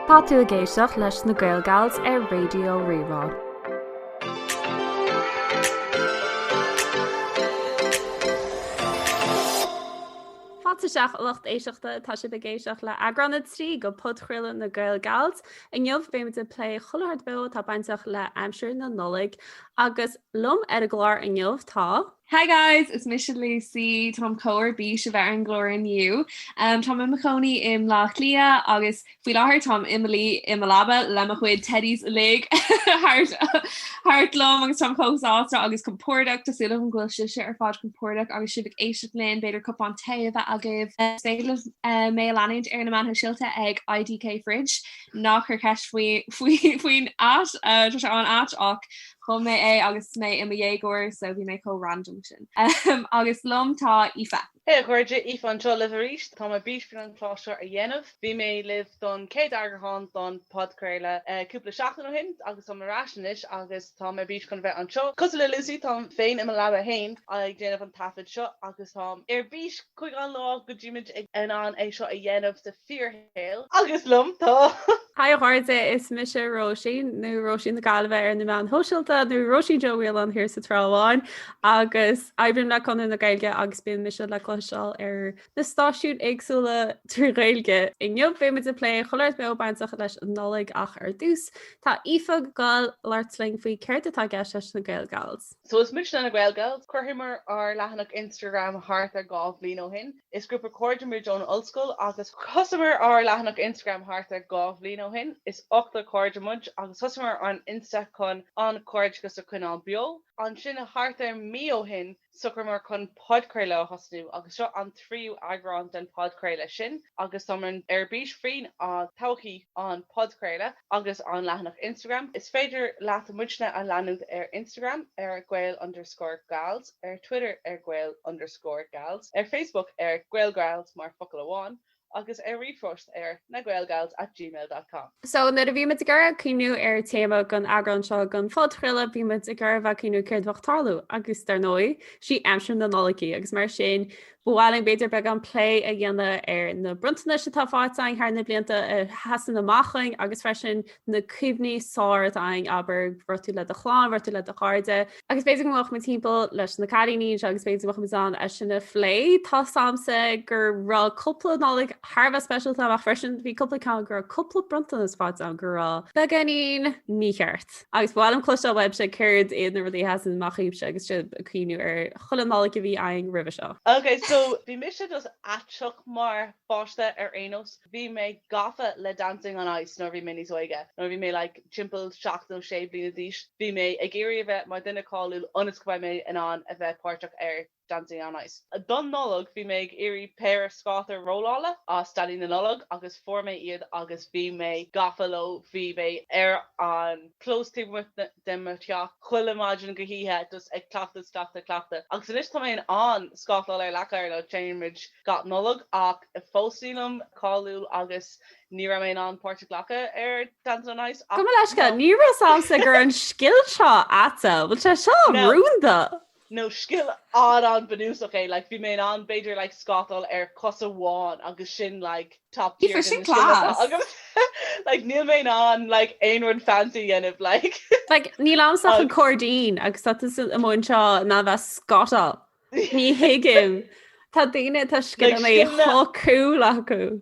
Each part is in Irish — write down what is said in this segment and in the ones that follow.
Tá tú ag éisteacht leis na GaelGals ar Raidió Rí-Rá. Fáilte isteach a lucht éisteachta, tá sibh ag éisteacht le eagrán 3 de phodchraoladh na GaelGals. Inniu beimid ag plé chuile shórt beo atá bainteach le aimsir na Nollag agus liom ar an gclár inniu tá, Hi guys, is mise Lucy, táim chomh ar bís a bheith ar an gclár inniu. Táim i mo chónaí i mBleá Cliath agus faoi láthair táim i mo luí i mo leaba le mo chuid teddys uilig thart orm agus táim chomh sásta agus compordach, tá súil agam go bhfuil sibhse ar fad compordach agus sibh ag éisteacht linn, b'fhéidir cupán tae agaibh. Is féidir libh mé a leanúint ar na meáin shóisialta ag IDK Fridge, ná cuir ceist faoin at, tá sé an-ait ach Chum mé é agus mé i mo dhéagóir so bhí mé chomh random sin. Agus liom tá Aoife. Hé a chairde, Aoife anseo libh arís. Tá mé ar bís faoin gclár seo a dhéanamh. Bhí mé libh don chéad eagrán don podchraoladh cúpla seachtain ó shin agus táim ar ais anois agus tá mé ar bís chun bheith anseo. Cosúil le Lucy, táim féin i mo leaba féin ag déanamh an taifead seo agus táim ar bís chuig an lá go mbeidh muid in ann é seo a dhéanamh sa fíorshaol. Agus liom, tá. Haigh a chairde, is mise Róisín, nó Róisín na Gaillimhe ar na meáin shóisialta, nó Róisín Seoighe a bhí ann tráth amháin, agus oibrím le Conradh na Gaeilge agus bíonn mise le cloisteáil ar na stáisiúin éagsúla trí Ghaeilge. Inniu beimid ag plé chuile shórt beo bainteach leis an Nollaig ach ar dtús tá Aoife ag goil ag labhairt linn faoi céard atá i gceist leis na GaelGals. So is muidne na GaelGals. Chuireamar ár leathanach Instagram thart ar dhá bhliain ó shin. Is grúpa cairde muid ón ollscoil agus. Thosaíomar ár leathanach Instagram thart ar dhá bhliain ó shin. Is ochtar cairde muid agus thosaíomar an Insta chun an cairdeachas a choinneáil beo. Ansin thart ar mí ó shin shocraíomar chun podchraoladh a thosnú agus seo an tríú eagrán den podchraoladh sin agus táimid ar bís faoi thodhchaí an podchraoladh agus an leathanach Instagram. Is féidir leat muidne a leanúint ar Instagram ar gael underscore gals. ar Twitter ar gael underscore gals, ar Facebook ar GaelGals mar fhocal amháin, agus ar ríomhphost ar nagaelgals at gmail dot com. So, nuair a bhí muid ag iarraidh cuimhneamh ar téama don eagrán seo den phodchraoladh, bhí muid ag iarraidh a bheith ag cuimhneamh céard a bheadh ag tarlú, agus dar ndóigh, sí aimsir na Nollag í, agus mar sin, Ba mhaith linn b'fhéidir beagán plé a dhéanamh ar na bronntanais atá fáighte againn thar na blianta a sheasann amach againn agus freisin na cuimhní is fearr atá againn abair i dtaobh le do chlann, i dtaobh le do chairde. Agus b'fhéidir go ngabhfadh muid timpeall leis na cailíní anseo agus b'fhéidir go mbeadh muid in ann é sin a phlé. Tá a fhios agamsa go raibh cúpla Nollaig thar a bheith speisialta ach freisin bhí cúpla ceann go raibh cúpla bronntanas fáighte agam go raibh beagáinín mícheart. Agus ba mhaith liom cloisteáil uaibhse céard iad na rudaí a sheasann amach daoibhse agus sibh ag cuimhniú ar chuile Nollaig a bhí againn roimhe seo. Ok, so bhí mise just aisteach mar pháiste ar aon nós. Bhí mé gafa le Dancing on Ice nuair a bhí mé níos óige. Nuair a bhí mé like timpeall seacht nó sé bliana d'aois, bhí mé ag iarraidh a bheith mar dhuine cáiliúil ionas go mbeidh mé in ann a bheith páirteach ar Dancing on Ice. Don Nollaig bhí mé ag iarraidh péire scátaí rollála as Daidí na Nollag agus fuair mé iad agus bhí mé gafa leo. Bhí mé ar an clós taobh amuigh de mo theach chuile maidin go hoíche just ag cleachtadh is cleachtadh is cleachtadh agus anois tá mé in ann scátáil ar leac oighir nó téimid gach Nollaig ach fós nílim cáiliúil agus ní raibh mé in ann páirt a ghlacadh ar Dancing on Ice ach, you know. Ní raibh a fhios agamsa gur an scil seo atá, bhfuil sé seo rúnda. nó scil an-an bunúsach é, like bhí mé in ann b'fhéidir like scátáil ar chos amháin agus sin like top tier Aoife, de sin na scileanna atá class! agam like níl mé in ann like aon rud fancy a dhéanamh like. Like níl agamsa ach an cairdín agus tá tusa amuigh anseo in ann bheith scátáil. Ní thuigim. Tá daoine, tá scileanna like scileanna so cool acu.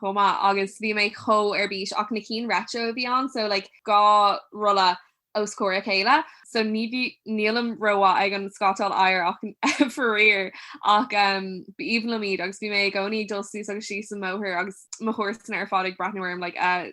chomh maith agus bhí mé chomh ar bís ach na cinn retro a bhí ann so like dhá rolla os comhair a chéile so ní bhí nílim rómhaith ag an scátáil oighir ach faraor ach um ba aoibhinn liom iad agus bhí mé i gcónaí ag dul suas agus síos an mbóthar agus mo chomharsana ar fad ag breathnú orm like a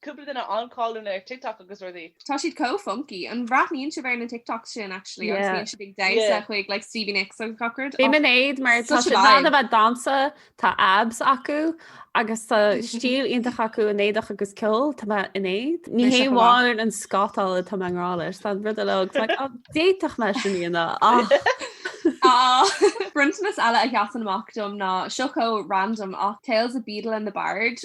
Cúpla duine an-cáiliúil ar TikTok agus rudaí. Tá siad chomh funky. An bhreathnaíonn sibh ar na TikToks sin actually agus bíonn siad ag damhsa chuig like Stevie Nicks agus gach rud? Bím in éad mar tá siad in ann a bheith ag damhsa, tá abs acu agus tá stíl iontach acu in éadach agus ceol, tá mé in éad. Ní hé amháin an scátáil atá mé i ngrá leis, tá an rud eile agus like á d'fhéadfadh mé sin a dhéanamh ach. Bronntanas eile a sheasann amach dom ná seo chomh random ach Tales of Beedle and the Bard.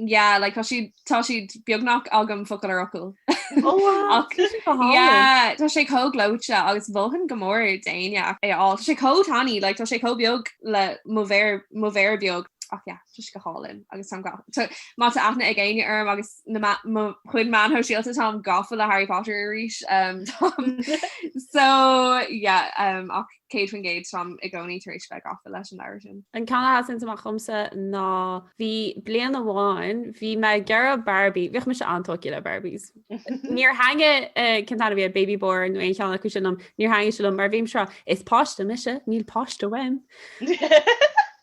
Yeah, like tá siad tá siad beagnach agam focal ar fhocal. Oh, wow, Ach- tá sé go hálainn. Yeah, tá sé chomh gleoite agus bhóthain go mór déine ach é a fháil. Tá sé chomh tanaí, like, tá sé chomh beag le mo mhéar mo mhéar beag ach yeah, tá sé go hálainn agus táim ga- tá- má tá aithne ag éinne orm agus na ma- mo chuid meáin shóisialta táim gafa le Harry Potter arís. Um, táim- so yeah, um, ach 100% táim i gcónaí tar éis bheith gafa leis an leabhar sin. An ceann a sheasann amach dhomsa ná bhí bliain amháin, bhí mé ag iarraidh Barbie, bhíodh mise an-tógtha le Barbies. Níor thaitnigh, cén t-ainm a bhí air, Baby Born nó aon cheann acu sin liom, níor thaitnigh sé liom mar bhímse, is páiste mise, níl páiste uaim.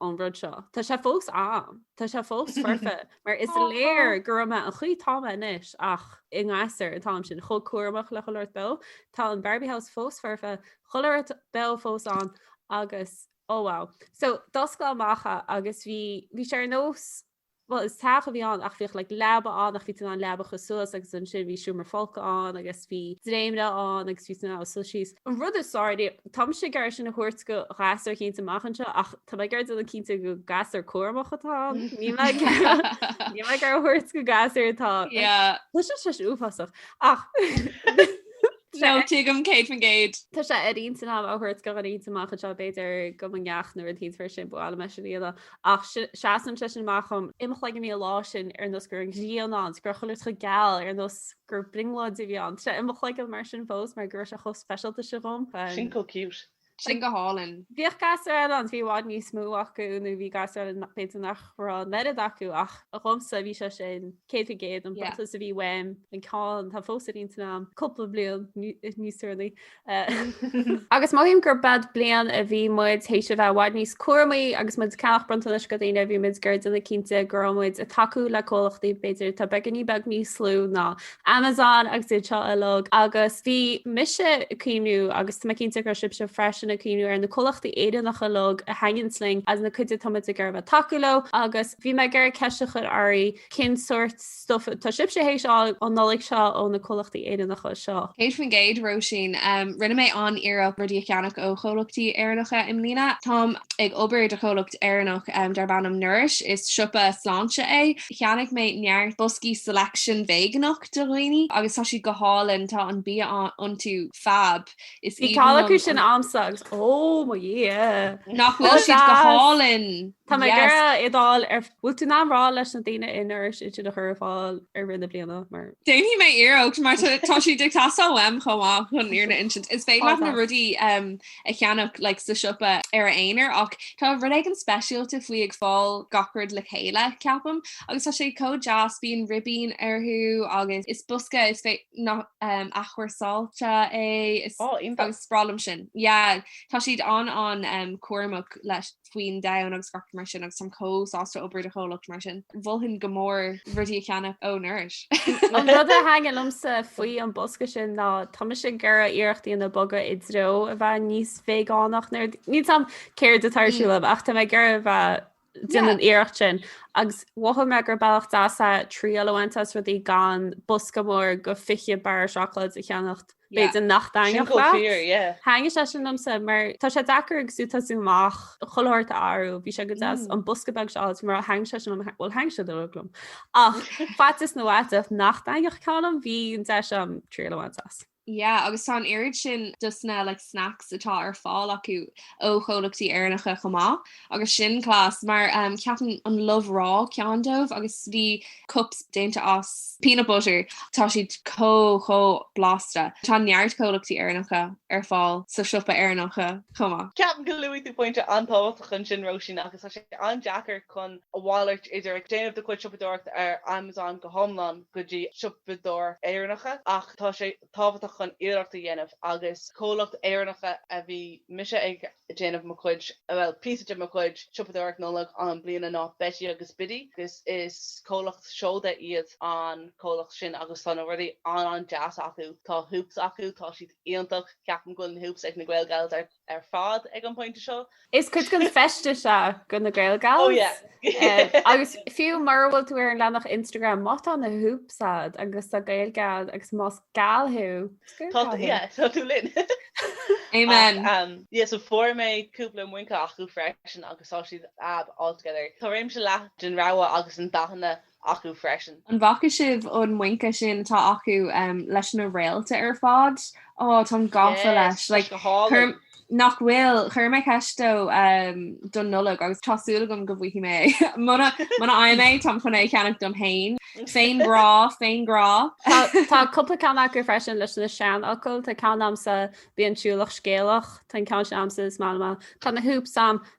ón rud seo. Tá sé fós ann. Tá sé fós foirfe, mar is léir go raibh mé an chaoi atá mé anois, ach i mo ghasúr an t-am sin, chomh cúramach le chuile shórt beo. Tá an Barbie House fós foirfe, chuile shórt beo fós ann, agus, oh wow. So, d'oscail amach é agus bhí, bhí sé ar nós Bhuel, is teach a bhí ann ach bhíodh like leaba ann ach bhí tú in ann leaba a chur suas agus ansin bhí seomra folctha ann agus bhí dréimire ann agus bhí tú in ann a suas síos. An rud is fearr, tá mise ag iarraidh é sin a thabhairt go gasúr cinnte amach anseo ach tá mé ag iarraidh déanamh cinnte gur gasúr cúramach atá ann. Níl mé ag iarraidh níl mé ag iarraidh a thabhairt go gasúr atá Yeah, Tá sé sé uafásach ach no, tuigim céad faoin gcéad. Tá sé ar intinn agam a thabhairt go an int amach anseo b'fhéidir go mo neacht nuair a dhéanfar sin buail me sin iad ach seasann sé sin amach dhom i mo chloigeann bhí an lá sin ar nós go raibh an ghrian ann, go raibh chuile shórt chomh geal ar nós gur brionglóid a bhí ann. Tá sé i mo chloigeann mar sin fós mar go raibh sé chomh speisialta sin dhom. Sin chomh cute. Sin go hálainn. Bhíodh gasúir eile ann, bhí i bhfad níos mó acu nó bhí gasúir eile b'fhéidir nach raibh an oiread acu ach dhomsa bhí sé sin. céad faoin gcéad an bronntanas a bhí uaim an ceann atá fós ar intinn agam cúpla bliain níos deireanaí agus mothaím gurb eod bliain a bhí muid théis a bheith i bhfad níos cúramaí agus muid ag ceannach bronntanais go daoine bhí muid ag iarraidh déanamh cinnte go raibh muid ag tacú le comhlachtaí b'fhéidir tá beagáinín beag níos lú ná Amazon agus iad seo uilig agus bhí mise ag cuimhniú agus tá mé cinnte go raibh sibhse freisin ag cuimhniú ar na comhlachtaí Éireannacha uilig a thaitníonn linn as na cuid atá muid ag iarraidh a bheith tacú leo agus Bhí mé ag iarraidh ceist a chur oraibh, cén sórt stuif atá sibhse théis a fháil an Nollaig seo ó na comhlachtaí Éireannacha seo? 100%, Róisín. Rinne mé an-iarracht rudaí a cheannach ó chomhlachtaí Éireannacha i mbliana. Táim ag obair do chomhlacht Éireannach darb ainm Nourish, is siopa sláinte é. Cheannaigh mé neart boscaí Selection veigeánach do dhaoine agus tá siad go hálainn, tá an bia iontu fab. Is Bhí ceann acu sin agamsa agus ó mo dhia! Nach bhfuil siad go hálainn! Tá mé ag iarraidh fheiceáil an bhfuil tú in ann a rá leis na daoine in Nourish iad sin a chur ar fáil i rith na bliana mar. Déanfaidh mé iarracht mar tá siad ag teastáil uaim chomh maith chun an fhírinne a insint. Is féidir leat na rudaí a cheannach le sa siopa ar a aonar ach tá rud éigin speisialta faoi ag fáil gach rud le chéile, ceapaim, agus tá sé chomh deas, bíonn ribín orthu agus is bosca is féidir athchúrsáilte é agus is breá liom sin. Yeah tá siad an an cúramach leis faoin domhan agus gach rud mar sin agus táim chomh sásta obair do chomhlacht mar sin. Mholfainn go mór rudaí a cheannach ó Nourish. An rud a thaitnigh liomsa faoi an bosca sin ná tá mise ag iarraidh iarracht a dhéanamh bogadh i dtreo a bheith níos veigeánach nó níl a fhios agam céard atá ar siúl agam ach tá mé ag iarraidh a bheith déanamh an iarracht sin. Agus mhothaigh mé gur bealach deas é triail a bhaint as rudaí gan bosca mór go 20 barra seacláid a cheannacht, b'fhéidir nach dtaitneodh leat. Thaitnigh sé sin liomsa mar tá sé deacair agus tú ag tosú amach chuile shórt a athrú, bhí sé go deas an bosca beag seo a fháilt mar thaitnigh sé sin liom, bhuel thaitnigh siad uilig liom. Ach faitíos nó fhaiteach nach dtaitneodh ceann liom, bhí an deis agam triail a bhaint as. Yeah, agus tá an oiread sin dos na like snacks atá ar fáil acu ó chomhlachtaí Éireannacha chomh maith, agus sin class mar um, ceapaim an Love Raw ceann dóibh agus bhí cups déanta as peanut butter tá siad chomh chomh blasta. Tá neart comhlachtaí Éireannacha ar fáil sa siopa Éireannacha chomh maith. Ceapaim go luaigh tú pointe an-tábhachtach ansin Róisín agus tá sé an-deacair chun a mhalairt idir ag déanamh do chuid siopadóireachta ar Amazon go hiomlán, go dtí siopadóir Éireannacha ach tá sé tábhachtach chun iarracht a dhéanamh agus comhlacht Éireannacha a bhí mise ag déanamh mo chuid bhuel píosa de mo chuid siopadóireacht Nollag an bliana ná Betty agus Biddy agus is comhlacht seoda iad an comhlacht sin agus tá na rudaí an-an-deas acu. Tá hoops acu, tá siad iontach, ceapaim go bhfuil na hoops ag na Gael Gals ar ar fad ag an bpointe seo. Is cuid den feisteas é do na Gael Gals agus fiú mura bhfuil tú ar an leathanach Instagram má tá na hoops a'd agus tá Gaeilge a'd agus más Gal thú, tá tú, yeah, tá tú linn. Amen. Yes, so fuair mé cúpla muince acu freisin agus tá siad fab altogether. Tá réimse leathan den rogha agus an dathanna acu freisin. An bhfaca sibh an muince sin atá acu leis na réalta ar fad? Ó, táim gafa leis. Yes, tá sé go hálainn. Nach bhfuil? Chuir mé ceist dó don Nollaig agus tá súil agam go bhfaighidh mé. Muna fhaighim é, táim chun é a cheannach dom féin. Féin grá, féin grá. Tá cúpla ceann acu freisin leis na seanfhocail. Tá ceann a'msa, Bíonn siúlach scéalach. Tá an ceann sin a'msa, Is maith liom é. Tá na hoops a'm,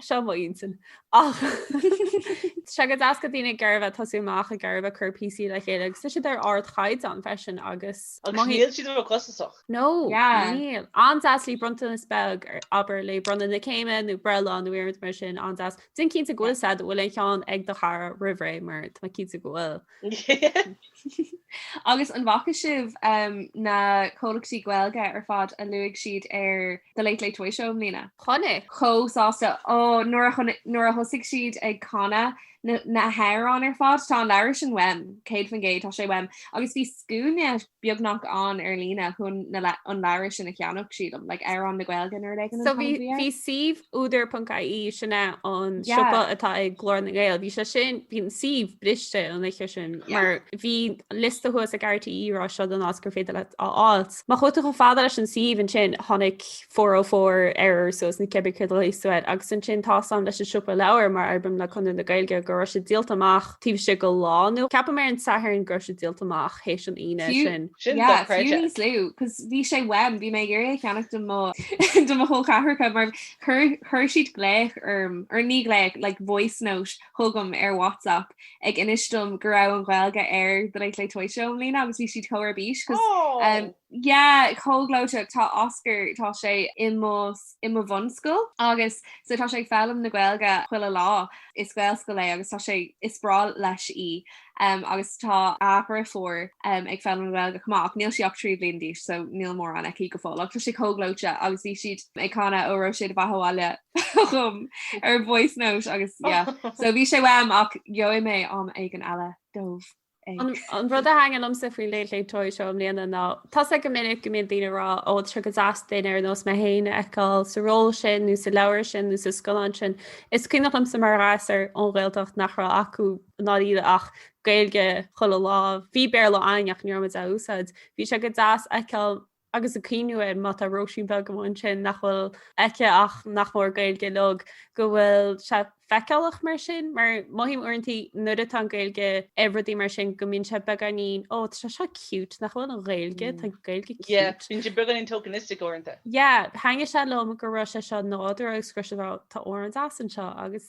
Seo mo intinn. Ach sé go deas do daoine ag iarraidh tosú amach ag iarraidh cur píosaí le chéile agus tá siad ar ardchaighdeán freisin agus Agus níl siad róchostasach. No, níl. An-deas le bronntanas beag, abair, le bronnadh na céime nó breithlá nó aon rud mar sin, an-deas. Déan cinnte go bhfuil a fhios a'd an bhfuil an ceann ag do chara roimhré mar tá mé cinnte go bhfuil. Agus an bhfaca sibh na comhlachtaí Gaeilge ar fad a luaigh siad ar The Late Late Toy Show i mbliana? Chonaic. Chomh sásta. Ó, nuair a thosaigh siad ag canadh na hamhráin ar fad, tá an leabhar sin uaim, 100%, tá sé uaim. Agus bhí scuaine beagnach ann ar líne chun an leabhar sin a cheannach, sílim, like amhrán na Gaeilge nó rud éigin an t-ainm a bhí air. Bhí suíomh údar.ie, sin é an siopa atá ag Glór na nGael, bhí sé sin, bhí an suíomh briste an oíche sin mar bhí liosta thuas ag RTÉ ag rá seo an áit gur féidir leat é a fháilt. Má chuaigh tú chomh fada leis an suíomh ansin tháinig 404 error suas nó cibé céard é siúd agus ansin tá a fhios a'm leis an Siopa Leabhar mar oibrím le Conradh na Gaeilge go raibh sé díolta amach taobh istigh de lá nó ceapaim ar an Satharn go raibh sé díolta amach théis an Aoine Fiú, sin. Sin yeah, dochreidte. fiú níos lú, 'cause bhí sé uaim, bhí mé ag iarraidh é a cheannach do mo do mo chol ceathracha mar chuir chuir siad glaoch orm, or ní glaoch, like voice note chugam ar WhatsApp ag inis dom go raibh an Ghaeilge ar The Late Late Toy Show i mbliana agus bhí siad chomh ar bís 'cause Aww! Yeah, chomh gleoiteach. Tá Oscar, tá sé i mo, i mo bhunscoil agus so tá sé ag foghlaim na Gaeilge chuile lá. Is Gaelscoil é agus tá sé, is breá leis í. em, agus tá a dhriofúr em ag foghlaim na Gaeilge chomh maith ach níl sí ach trí bliana d'aois so níl mórán aici go fóill ach tá sé chomh gleoite agus bhí siad ag canadh Óró sé do bheatha abhaile chugam ar voice note agus yeah. So bhí sé uaim ach gheobhaidh mé am éigin eile dóibh. An rud a thaitníonn liomsa faoi Late Late Toy Show i mbliana ná tá's agam go minic go mbíonn daoine ag rá, 'Ó, tá sé go deas duine ar nós mé féin a fheiceáil sa ról sin nó sa leabhar sin nó sa scannán sin. Is cuimhneach liomsa mar ghasúr ón Ghaeltacht nach raibh acu ná diabhal ach Gaeilge chuile lá. Bhí Béarla againn ach ní raibh muid á úsáid. Bhí sé go deas a fheiceáil agus ag cuimhniú air, má tá Róisín beag amháin sin nach bhfuil aici ach nach mór Gaeilge uilig, go bhfuil sí feiceálach mar sin, mar mothaím uaireanta nuair atá an Ghaeilge i rudaí mar sin go mbíonn sé beagáinín, ó, tá seo cute, nach bhfuil an Ghaeilge, tá an Ghaeilge cute. Yeah, bíonn sé beagáinín tokenistic uaireanta. Yeah, thaitnigh sé liom go raibh sé seo nádúrtha agus go raibh sé, tá amhrán deas anseo, agus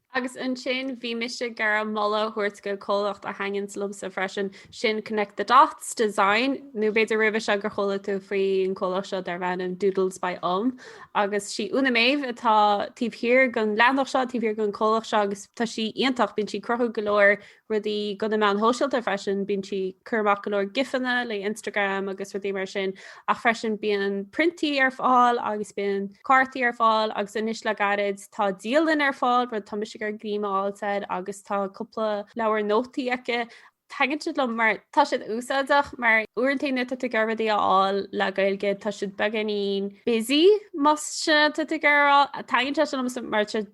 Agus ansin bhí mise ag iarraidh moladh a thabhairt go comhlacht a thaitníonns liomsa freisin, sin Connect the Dots Design, nó b'fhéidir roimhe seo gur chuala tú faoin chomhlacht seo darb ainm Doodles by ÚM, agus sí Úna Méabh atá taobh thiar gon leathanach seo, taobh thiar gon chomhlacht seo agus tá sí iontach, bíonn sí ag cruthú go leor rudaí go na meáin shóisialta freisin, bíonn sí ag cur amach go leor gifanna le Instagram agus rudaí mar sin, ach freisin bíonn priontaí ar fáil agus bíonn cártaí ar fáil agus anois le gairid tá dialann ar fáil, rud atá mise ag iarraidh go mbainfidh mé úsáid, agus tá cúpla leabhar nótaí aici. Taitníonn siad liom mar tá siad úsáideach mar uaireanta nuair tá tú ag iarraidh rudaí a fháil le Gaeilge tá siad beagáinín busy más é sin atá tú ag iarraidh a rá, taitníonn sé sin liom mar tá siad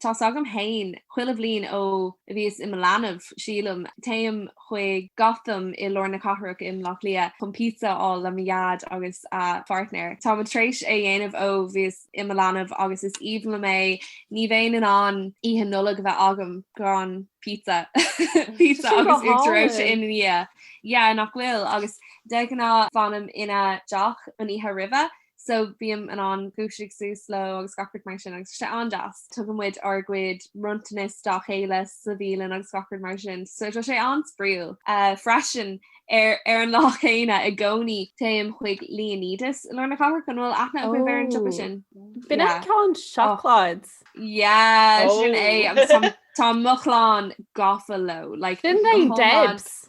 Tá's agam fhéin, chuile bhliain ó bhíos i mo leanbh, sílim, téim chuig Gotham i lár na cathrach i mBleá Cliath chun píotsa a fháil le mo dhaid agus a phairtnéir. Táim t'réis é dhéanamh ó bhíos i mo leanbh agus is aoibhinn liom é. Ní bhéinn in ann Oíche Nollag a bheith agam gan píotsa. Píotsa agus uachtar reoite ina dhiaidh. Yeah, nach bhfuil? Agus de ghnáth fanaim ina dteach an oíche roimhe. so bím in ann dúisigh suas leo agus gach rud mar sin agus tá sé an-deas. Tugann muid ár gcuid bronntanas dá chéile sa bhialann agus gach rud mar sin, so tá sé an-spraíúil. Freisin, ar an lá céanna i gcónaí téim chuig Leonidas i lár na cathrach, an bhfuil aithne agaibh ar an siopa sin? B'in an ceann seacláide? Yeah, sin é agus tá mo chlann gafa leo, like Sin é Debs.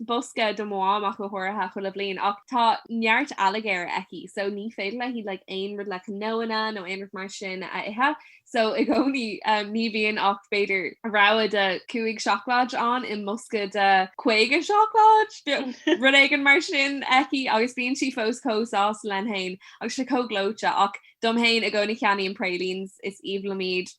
bosca do mo Mham amach go háirithe chuile bhliain ach tá neart ailléirgí aici so ní féidir léi like aon rud le cnónna nó aon rud mar sin a ithe so i gcónaí ní bhíonn ach b'fhéidir rogha de 5 seacláid ann i mbosca de 50 seacláid nó rud éigin mar sin aici agus bíonn sí fós chomh sásta léi fhéin agus tá sé chomh gleoite ach dom fhéin i gcónaí ceannaím na pralines is aoibhinn liom iad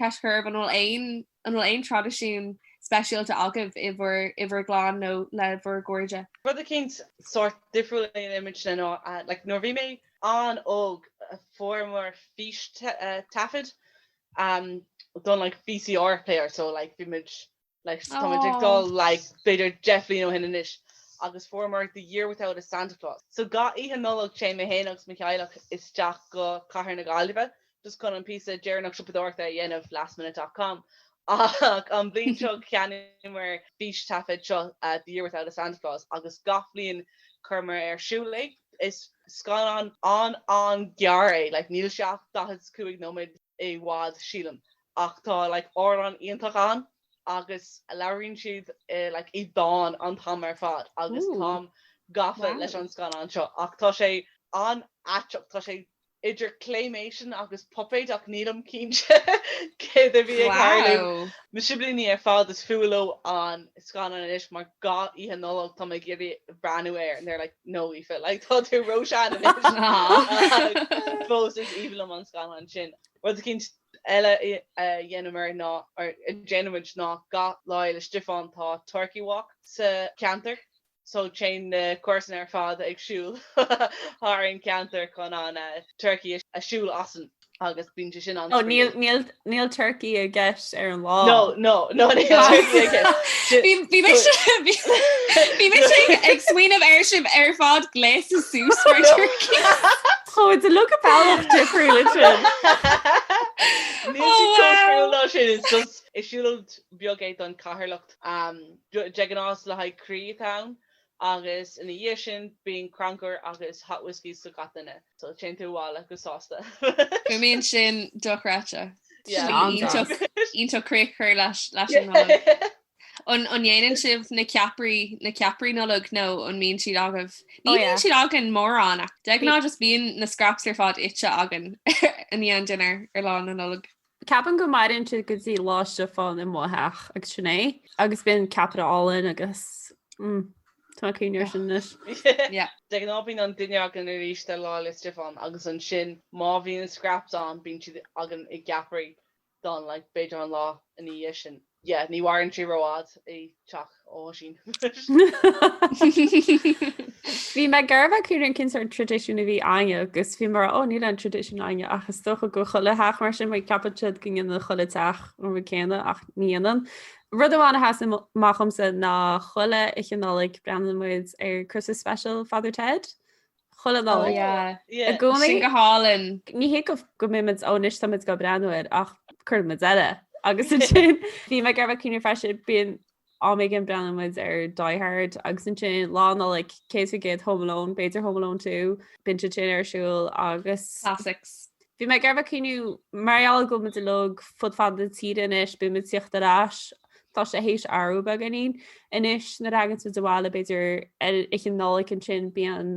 Cé is cúrsa, an bhfuil aon an bhfuil aon traidisiún speisialta agaibh i bhur i bhur gclann nó le bhur gcairde? Rud eicínt sórt difriúil, ní maith, nó like nuair bhí mé an-óg fuaireamar fís taifead um don like VCR player so like bhí muid Like so táimid ag dul like b'fhéidir deich bhliain ó shin anois agus fuaireamar The Year Without a Santa Claus. So gach oíche Nollag téim mé féin agus mo theaghlach isteach go cathair na Gaillimhe just chun an píosa deireanach siopadóireachta a dhéanamh, lastminute.com, ach an bhliain seo cheannaíomar fís taifead seo The Year Without a Santa Claus agus gach bliain chuireamar ar siúl é. Is scannán an-an-ghearr é, like níl sé ach 45 nóiméad i bhfad sílim, ach tá like amhráin iontach ann agus labhraíonn siad like i dán an t-am ar fad agus táim gafa leis an scannán seo ach tá sé an-aiteach, tá sé idir claymation agus puipéid ach nílim cinnte céard a bhí ag tarlú. Mo shiblíní ar fad is fuath leo an scannán anois mar gach oíche Nollag táim ag iarraidh breathnú air and they're like no Aoife like tá tú ró-sean anois fós is aoibhinn liom an scannán sin. Rud eicínt eile a dhéanamar ná, or a déanaimid ná gach lá le Stiofán tá Turkey Walk sa cheantar, so téann na comharsana ar fad ag siúl thart an ceantar chun an turcaí a siúl asainn agus bíonn sé sin an-spraoi. Níl, níl turcaí i gceist ar an lá. No, no, no níl turcaí i gceist. Bhí mise, bhí mise ag smaoineamh air sibh ar fad gléasta suas mar turcaí. Ó sílim go bhfuil an bealach difriúil le sin. Níl siad chomh difriúil ná sin, is just siúlóid beag é don charthanacht. De ghnáth is le haghaidh Croí atá ann, agus ina dhiaidh sin bíonn crannchur agus hot whisky do gach duine, so téann tú abhaile go sásta. Fuaimíonn sin dochreidte. Sin iontach críoch cur leis an nGaeilge. An ndéanann sibh na ceapairí, na ceapairí Nollag nó an mbíonn siad agaibh? Ní bhíonn siad againn mórán, de ghnáth just bíonn na scraps ar fad ite againn i ndiaidh an dinnéir ar Lá na Nollag. Ceapaim go maireann siad go dtí Lá Stiofáin i mo theach agus sin é, agus bíonn ceapaire álainn agus mm tá mé cuimhneamh air sin anois. Yeah. De ghnáth bíonn an dinnéar againn arís Lá le Stiofán agus ansin má bhíonn na scraps ann bíonn siad againn i gceapairí don like, b'fhéidir an lá ina dhiaidh sin. Yeah, ní mhaireann sí rófhada i dteach ó Oisín. Bhí mé ag iarraidh a bheith ag cuimhneamh cén sórt traidisiún a bhí againne agus bhí mé ag rá ó níl aon traidisiún againne ach is dócha go bhfuil chuile theach mar sin mar ceapann siad go ndéanann chuile theach an rud céanna ach ní dhéanann. Rud amháin a sheas amach domsa ná chuile Oíche Nollag breathnaíonn muid ar Christmas Special Father Ted Chuile Nollaig. Oh yeah. I gcónaí. Sin go hálainn. Ní hé go mbíonn muid ó anois tá muid ag goil ag breathnú air ach cuireann muid air é agus ansin bhí mé ag iarraidh a bheith ag cuimhneamh freisin bíonn am éigin breathnaíonn muid ar Die Hard agus ansin lá Nollag céad faoin gcéad Home Alone b'fhéidir Home Alone 2 bíonn siad sin ar siúl agus. Classics. Bhí mé ag iarraidh a bheith ag cuimhneamh, mar gheall go bhfuil muid uilig fud fad na tíre anois, bíonn muid ag tíocht ar ais, tá sé théis athrú beagáinín anois, nuair a thagann muid abhaile b'fhéidir ar Oíche Nollag ansin bíonn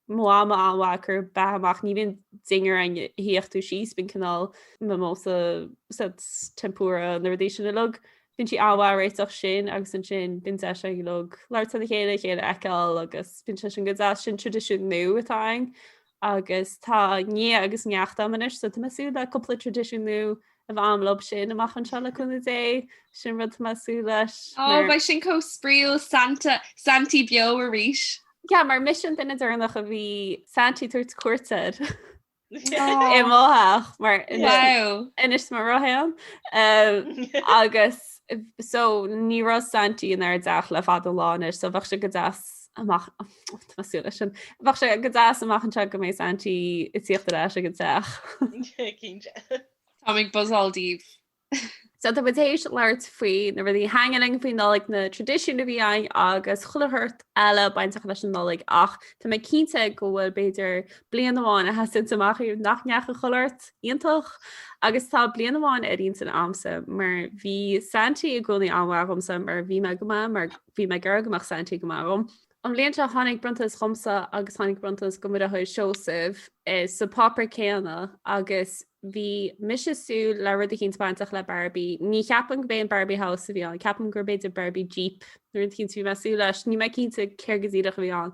mo mhama an-mhaith ag cur beatha amach, ní bhíonn dinnéar ann a shuífeadh tú síos, bíonn cineál mimosas, tempura, na rudaí sin uilig, bíonn sí an-mhaith ag réiteach sin agus ansin bíonn deis againn uilig labhairt lena chéile, a chéile a fheiceáil agus bíonn sé sin go deas, sin traidisiún nua atá againn agus tá nia agus neacht a'm anois so tá mé ag súil le cúpla traidisiún nua a bheith a'm leob sin amach anseo le cúnamh Dé, sin rud tá mé ag súil leis. Ó beidh sin chomh spraíúil, Santa, Santaí beo arís. Yeah, mar mise an duine deireanach a bhí Santaí ag tabhairt cuairt air i mo theach mar a d'inis mé roimh ré agus so ní raibh Santaí inár dteach le fada an lá anois so bheadh sé go deas ach tá mé ag súil leis sin. Bheadh sé go deas amach anseo go mbeidh Saintí ag tíocht ar ais ag an teach. Cinnte. Táim ag buzáil daoibh. So tá muid théis labhairt faoi na rudaí a thaitníonn linn faoin Nollaig, na traidisiúin a bhí againn agus chuile shórt eile bainteach leis an Nollaig ach tá mé cinnte go bhfuil b'fhéidir bliain amháin a sheasanns amach ariamh nach ndeachaigh chuile shórt iontach agus tá bliain amháin ar intinn agamsa mar bhí Saintí i gcónaí an-mhaith agamsa mar bhí mé go maith mar Bhí mé ag iarraidh go mbeadh Santi go maith agam. An bhliain seo tháinig bronntanas dhomsa agus tháinig bronntanas do mo dheartháir Seosamh sa pháipéar céanna agus bhí mise ag súil le rud éicint bainteach le Barbie. Ní cheapaim gurb é an Barbie House a bhí ann, ceapaim gur b'fhéidir Barbie Jeep nó rud éicint a bhí mé ag súil leis, níl mé cinnte céard go díreach a bhí ann.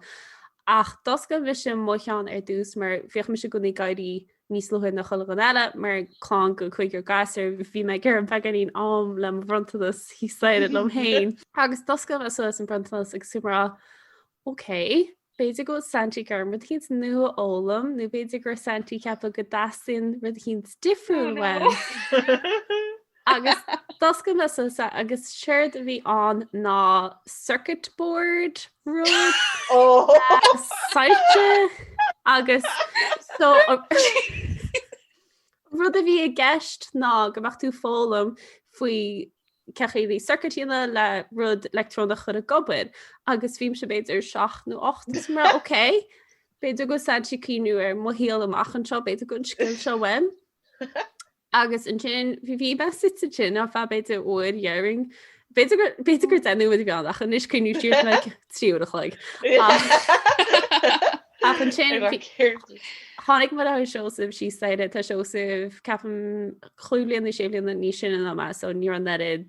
Ach d'oscail mise mo cheann ar dtús mar bhíodh mise i gcónaí ag éirí níos luaithe ná chuile dhuine eile mar chlann de chúigear gasúr bhí mé ag iarraidh beagáinín am le mo bhronntanas thíos staighre liom féin agus d'oscail mé suas an bronntanas agus bhí mé ag rá ok b'fhéidir go bhfuil Santi ag iarraidh orm rud éicint nua a fhoghlaim nó b'fhéidir go raibh Santi ag ceapadh go dteastaíonn rud éicint difriúil uaim. Agus d'oscail mé suas é agus séard a bhí ann ná circuit board rud saite agus so rud a bhí i gceist ná go mbeadh tú ag foghlaim faoi cén chaoi le circuit a dhéanamh le rud leictreonach a chur ag obair agus bhí mise b'fhéidir 7 nó 8 is mé ag rá ok b'fhéidir go bhfuil Santaí ag cuimhniú ar mo shaol amach anseo b'fhéidir go mbeidh an scil seo uaim. Agus ansin bhí bhí mé suite ansin ar feadh b'fhéidir uair déarfainn. B'fhéidir gur b'fhéidir gur deich nóiméad a bhí ann, ach anois cuimhním siar like trí uair a chloig. Ach ansin tháinig mo dheartháir Seosamh síos an staighre, tá Seosamh ceapaim cúig bliana nó sé bliana níos sine ná mé so ní raibh an oiread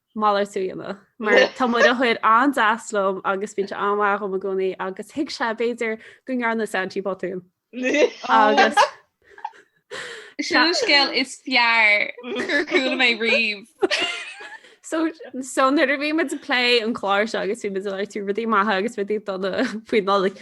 malartú a dhéanamh mar tá mo dheartháir an-deas liom agus bíonn sé an-mhaith dhom i gcónaí agus thuig sé b'fhéidir go ndearna Santaí botún. Agus Sin an scéal is fearr gur chuala mé riamh. So so nuair a bhí muid ag plé an clár seo agus bhí muid ag labhairt faoi rudaí maithe agus rudaí dona faoin Nollaig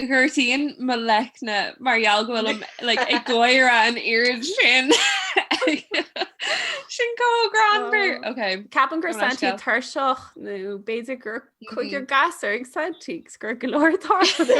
Gortaíonn mo leicne mar gheall go bhfuilim like, ag gáire an oiread sin. sin chomh greannmhar. Oh. Ok. Ceapaim go raibh Santaí tuirseach nó b'fhéidir go raibh cúigear gasúr ag Santaí agus go raibh go leor ag tarlú.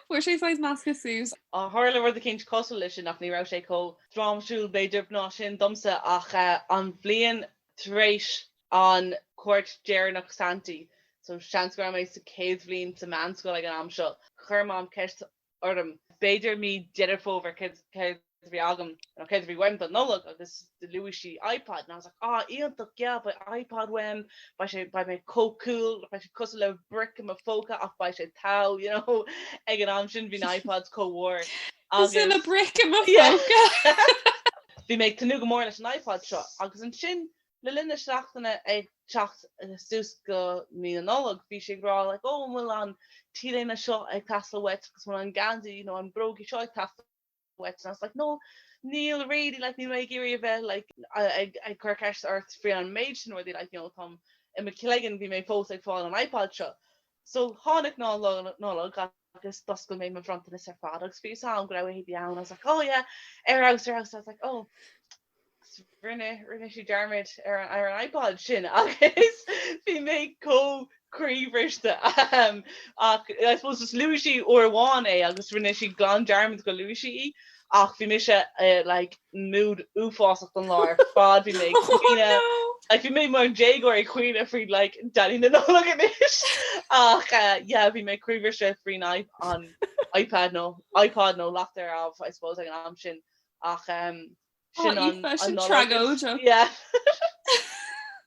Fuair sé saghas measctha suas. Ó, tharla rud eicínt cosúil leis sin ach ní raibh sé chomh drámatúil, b'fhéidir, ná sin domsa ach eh, an bhliain tar éis an chuairt dheireanach Santaí, so seans go raibh mé sa chéad bhliain sa mheánscoil ag an am seo, chuir Mam ceist orm, b'fhéidir mí Dheireadh Fómhair, céard a bhí agam, nó céard a bhí uaim don Nollaig agus do luaigh sí iPod and I was like ah iontach yeah beidh iPod uaim, beidh sé, beidh mé chomh cool, beidh sé cosúil le bric i mo phóca ach beidh sé tau you know, ag an am sin bhí na iPods chomh mhór agus Is ina bric i mo phóca! yeah bhí mé ag tnúth go mór leis an iPod seo agus ansin Le linn na seachtaine ag teacht suas go Mí na Nollag, bhí sí ag rá like oh an bhfuil an t-léine seo ag teastáil uait agus an bhfuil an geansaí you know na bróga seo ag teastáil uait and I was like no níl really like níl mé ag iarraidh a bheith like ag cur ceist ort faoi an méid sin rudaí like you know táim i mo cloigeann bhí mé fós ag fáil an iPod seo so tháinig Lá Nollag agus agus d'oscail mé mo bhronntanais ar fad agus bhí a fhios agam go raibh uirthi beann, I was like, oh yeah, air house, air house, I was like, oh, rinne, rinne sí dearmad ar an, ar an iPod sin agus bhí mé chomh croíbhriste, ahem, ach I suppose just luaigh sí uair amháin é agus rinne sí glan dearmad go luaigh sí í. ach bhí mise i, like, mood uafásach an lá ar fad, bhí mé ag caoineadh, like bhí mé mar dhéagóir ag caoineadh faoi like Daidí na Nollag anois, ach yeah bhí mé croíbhriste faoin iPad nó iPod nó leacht ar abh I suppose ag an am sin ach eh sin an Nollaig is yeah.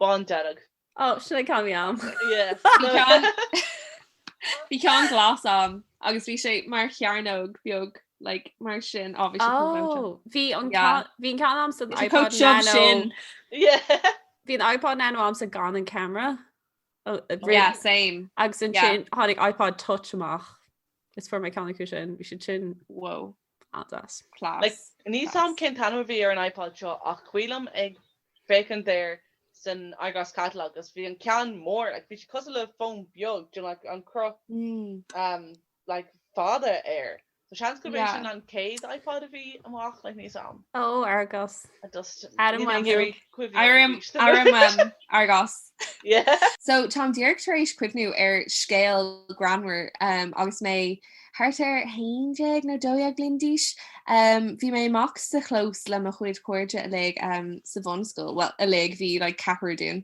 Bán dearg. Ó, sin é an ceann a bhí a'm. Bhí ceann bhí ceann glas a'm agus bhí sé mar chearnóg beag like mar sin. Ó, bhí sé chomh tiubh sin. Ó, bhí an Yeah. ceann, bhí an ceann a'msa Bhí sé chomh iPod tiubh Nano. sin. Yeah. Bhí an iPod Nano a'msa gan an camera. Ó, agus Yeah, same. Agus Yeah. ansin tháinig iPod Touch amach. Is fuair mé ceann acu sin. Bhí siad sin Wow. Iontach. Class. Níl a fhios a'm cén t-ainm a bhí ar an iPod seo ach is cuimhin liom ag féachaint air san Argos catalogue agus bhí an ceann mór like bhí sé cosúil le fón beag do like an cruth umm like fada air so seans gurb é sin an chéad iPod a bhí amach like níl a fhios a'm. Ó Argos. I just Ara, níl mé ag cuimhneamh Aire arís. aire maith Argos. Yeah. So táim díreach tar éis cuimhniú ar scéal greannmhar umm agus mé ag Thart ar 11 nó 12 bliain d'aois, bhí mé amuigh sa chlós le mo chuid cairde uilig sa bhunscoil, bhuel, uilig, bhí like ceathrar dínn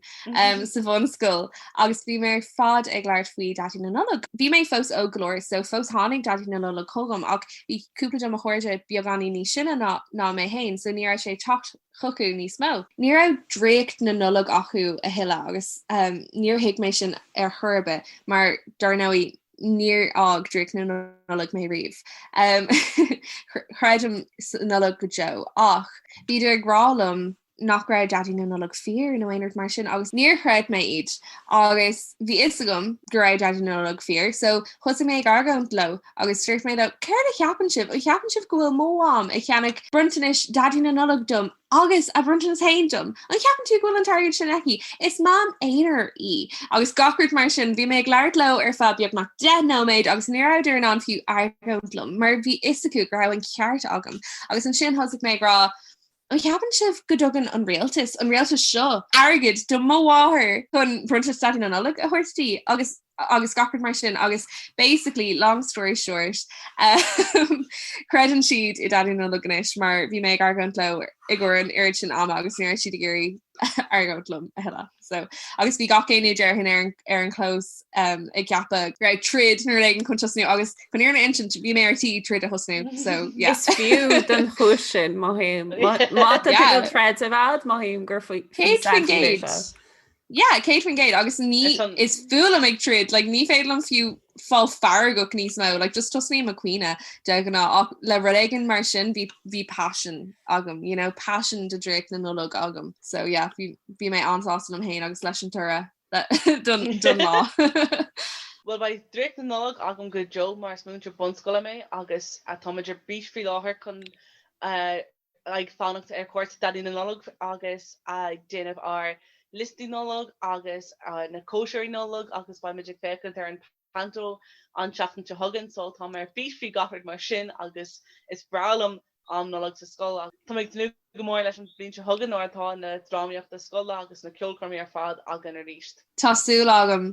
sa bhunscoil, agus bhíomar ar fad ag labhairt faoi Daidí na Nollag. Bhí mé fós óg go leor, so fós tháinig Daidí na Nollag chugam, ach bhí cúpla de mo chairde beagáinín níos sine ná mé féin, so ní raibh sé ag teacht chucu níos mó. Ní raibh draíocht na Nollag acu a thuilleadh, agus níor thuig mé sin ar chor ar bith, mar dar ndóigh, níor fhág draíocht na Nollag mé riamh. Creidim sa Nollaig go deo, ach bhíodar ag rá liom nach raibh Daidí na Nollag fíor nó aon rud mar sin agus níor chreid mé iad. Agus bhí a fhios agam go raibh Daidí na Nollag fíor, so thosaigh mé ag argóint leo agus dúirt mé leo, 'céard a cheapann sibh? An gceapann sibh go bhfuil mo Mham ag ceannach bronntanais Daidí na Nollag dom? Agus a bronntanas féin dom. An gceapann tú go bhfuil an t-airgead sin aici? Is mam aonair í. Agus gach rud mar sin. Bhí mé ag labhairt leo ar feadh beagnach deich nóiméad agus ní rabhadar in ann fiú argóint liom, mar bhí a fhios acu go raibh an ceart agam. Agus ansin thosaigh mé ag rá, An gceapann sibh go dtugann an rialtas, an rialtas seo, airgead do mo mháthair chun Bronntanas Daidí na Nollag a thabhairt di? Agus. agus gach rud mar sin agus basically long story short um, creideann siad i nDaidí na Nollag anois mar bhí mé ag argóint leo i gcomhair an oiread sin ama agus ní raibh siad ag iarraidh argóint liom a thuilleadh. So agus bhí gach éinne déarfainn ar ar an clós um, ag ceapadh go raibh troid nó rud éigin chun tosnú agus chun an fhírinne a insint bhí mé ar tí troid a thosnú so yes. Is fiú den chuis sin má haim má tá Yeah. tú troid má haim gur faoi Cé faoi cén gate? Yeah, 100% agus ní is fuath liom ag troid, like, ní féidir liom fiú fáil feargach níos mó, like, just tosnaím ag caoineadh de ghnáth ach le rud éigin mar sin bhí passion agam, you know, passion do draíocht na Nollag agam. So yeah, bhí mé an-sásta liom féin agus leis an toradh don lá. Bhuel, beidh draíocht na Nollag agam go deo mar is múinteoir bunscoile mé agus táimid ar bís faoi láthair chun ag fanacht ar chuairt Dhaidí na Nollag agus ag déanamh ár liostaí Nollag agus na cóisirí Nollag agus beimid ag féachaint ar an Panto an tseachtain seo chugainn so tá mé ar bís faoi gach rud mar sin agus is breá liom am Nollag sa scoil agus tá mé ag tnúth go mór leis an bhliain seo chugainn nuair atá na drámaíochta scoile agus na ceolchoirmí ar fad againn arís. Tá súil agam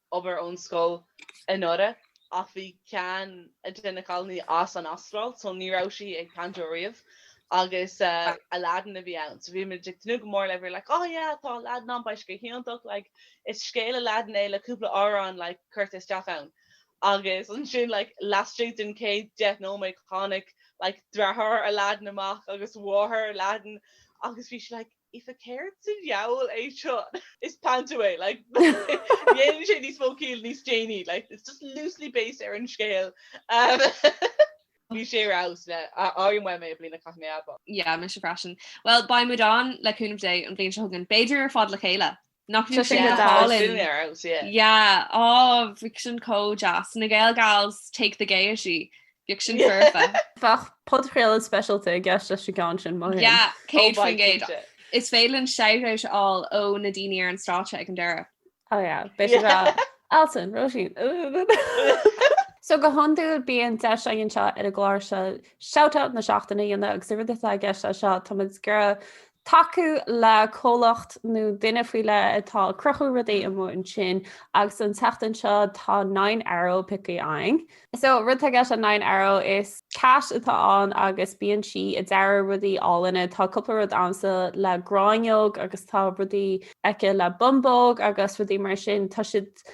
obair ón scoil anuraidh ach bhí ceann de na cailíní as an Astráil so ní raibh sí ag panto riamh agus Aladdin a bhí ann so bhí muid ag tnúth go mór le we were like oh yeah tá Aladdin ann beidh sé go hiontach like is scéal Aladdin é le cúpla amhrán like curtha isteach ann agus ansin like laistigh den chéad deich nóiméad tháinig like deartháir Aladdin amach agus mháthair Aladdin agus bhí sí like Aoife, céard sa diabhal é seo? Is panto é, like dhéanann sé níos mó ciall níos déanaí, like it's just loosely based ar an scéal. Bhí sé ar fheabhas like airím uaim é i mbliana caithfidh mé a admháil. Yeah, mise freisin. Bhuel, beidh muid ann, le cúnamh Dé, an bhliain seo chugainn, b'fhéidir ar fad le chéile! Nach Tá sé na Gals Colin. dúinn ar fheabhas, yeah. Yeah, oh, bheadh sin chomh deas. Na Gael Gals take the Gaiety. Bheadh sin Yeah. foirfe. Bheadh podchraoladh speisialta i gceist leis an gceann sin maith féin. Yeah, Oh, céad bhai, faoin gcéad. cinnte. Is féidir linn shout-out a fháil ó na daoine ar an stáitse ag an deireadh. Oh yeah, beidh siad Yeah. ag rá, Alison, Róisín, uh-uh-uh-uh. So go hiondúil bíonn deis againn seo ar an gclár seo shout-out na seachtaine a dhéanamh agus an rud atá i gceist leis seo, táimid ag iarraidh tacú le comhlacht nó duine faoi leith atá ag cruthú rudaí amuigh ansin agus an tseachtain seo tá Nine Arrow pioctha againn. So rud atá i gceist le Nine Arrow is Cat atá ann agus bíonn sí ag dearadh rudaí álainne, tá cúpla rud agamsa le gráinneog agus tá rudaí aici le bumbóg agus rudaí mar sin tá siad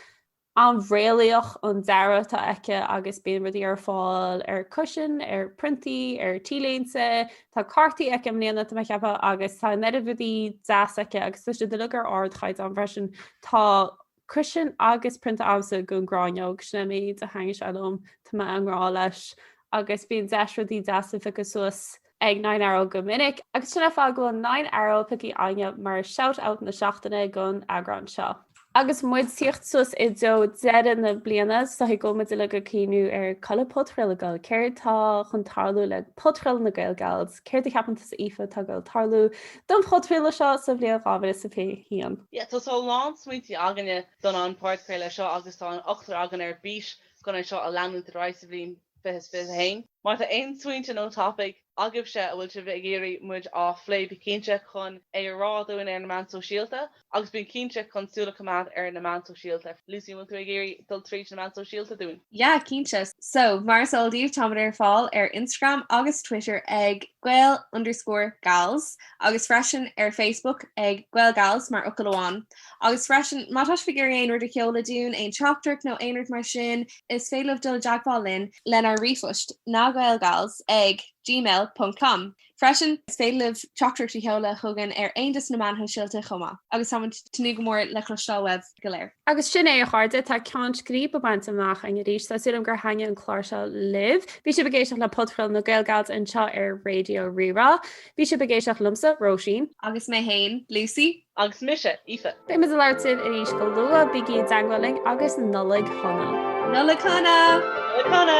An-réalaíoch an dearadh atá aici agus bíonn rudaí ar fáil ar cushion, ar priontaí, ar T-léinte. Tá cártaí aici i mbliana, tá mé ag ceapadh, agus tá an oiread rudaí deas aici agus tá siad uilig ar ardchaighdeán freisin, tá cushion agus prionta agamsa den gráinneog, sin é an méid a thaitníonn sé liom, tá mé i ngrá leis. Agus bíonn deis rudaí deasa a phiocadh suas ag Nine Arrow go minic, agus sin an fáth go bhfuil Nine Arrow piocthaí againne mar shout out na seachtaine don eagrán seo. Agus muid ag tíocht suas i dtreo deireadh na bliana, is dóichí go bhfuil muid uilig ag cuimhniú ar culaidh podchraoladh gael, céard tá chun tarlú le podchraoladh na gaelgals, céard a cheapann tusa Aoife atá ag goil ag tarlú don phodchraoladh seo sa bhliain 2021? Yeah tá tá a lán smaointí againne don an podchraoladh seo agus tá an ochtar againn ar bís chun é seo a leanúint ar aghaidh sa bhliain 20 21 Má tá aon smaointe nó topaic agaibhse a bhfuil sibh ag iarraidh muid á phlé bí cinnte chun é a rá dúinn ar na meáin shóisialta agus bí cinnte chun súil a choimeád ar na meáin shóisialta Lucy an bhfuil tú ag iarraidh dul tríd na meáin shóisialta dúinn? Yeah cinnte so mar is eol daoibh táimid ar fáil ar Instagram agus Twitter ag gael underscore gals agus freisin ar Facebook ag GaelGals mar fhocal amháin. Agus freisin, má tá sibh ag iarraidh aon rud a sheoladh dúinn, aon teachtaireacht nó aon rud mar sin, is féidir libh dul i dteagmháil linn lenár ríomhphost, nagaelgals ag gmail ponc com. Freisin, is féidir libh teachtaireacht a sheoladh chugainn ar aon dos na meáin shóisialta chomh maith. Agus táimid ag tnúth go mór le cloisteáil uaibh go léir! Agus sin é, a chairde, tá ceann scríbe bainte amach againn arís. Tá súil agam gur thaitnigh an clár seo libh. Bhí sibh ag éisteacht le podchraoladh na GaelGals anseo ar Raidió Rí-Rá. Bhí sibh ag éisteacht liomsa, Róisín. Agus mé féin, Lucy. Agus mise Aoife. Beimid ag labhairt libh arís go luath, bígí i dteagmháil linn agus Nollaig Shona! Nollaig Shona! Nollaig Shona!